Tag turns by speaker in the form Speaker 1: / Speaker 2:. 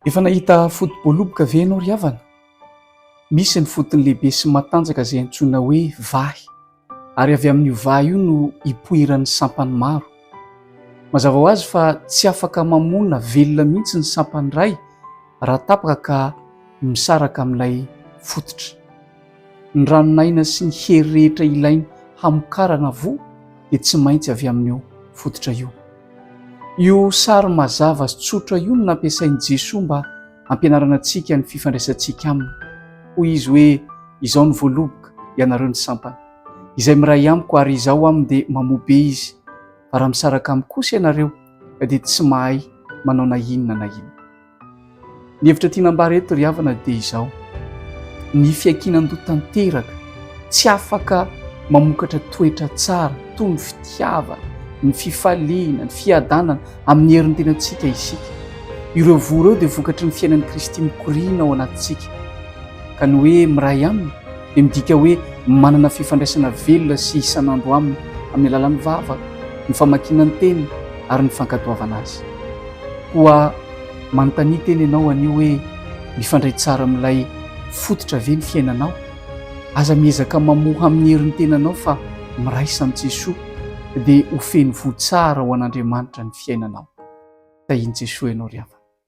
Speaker 1: Efa nahita foto-boaloboka ve ianao ry havana? Misy ny fotony lehibe sy matanjaka izay antsoina hoe vahy. ary avy amin'io vahy io no ipoiran'ny sampany maro. Mazava ho azy fa tsy afaka mamona velona mihitsy ny sampany iray raha tapaka ka misaraka amin'ilay fototra. Ny ranon'aina sy ny hery rehetra ilainy hamokarana voa dia tsy maintsy avy amin'io fototra io. Io sary mazava sy tsotra io no nampiasain'i Jesoa mba hampianarana antsika ny fifandraisantsika Aminy. Hoy Izy hoe, Izao no voaloboka, ianareo ny sampana. Izay miray amiko ary Izaho aminy dia mamoa be izy, fa raha misaraka amiko kosa ianareo ka dia tsy mahay manao na inona na inona. Ny hevitra tiana ambara eto ry havana dia izao, ny fiankinan-doha tanteraka, tsy afaka mamokatra toetra tsara toy ny fitiavana, ny fifaliana, ny fiadanana amin'ny herin'ny tenantsika isika. Ireo voa ireo dia vokatry ny fiainan'i Kristy mikoriana ao anatintsika ka ny hoe miray Aminy dia midika hoe manana fifandraisana velona sy isan'andro aminy amin'ny alalan'ny vava, ny famakiana ny teny ary ny fankatoavana azy. Koa manontania tena ianao anio hoe, mifandray tsara amin'ilay fototra ve ny fiainanao? Aza miezaka mamoha amin'ny herin'ny tenanao fa miraisa amin'i Jesoa dia ho feno voa tsara ho an'Andriamanitra ny fiainanao. Tahian'i Jesoa ianao ry havana.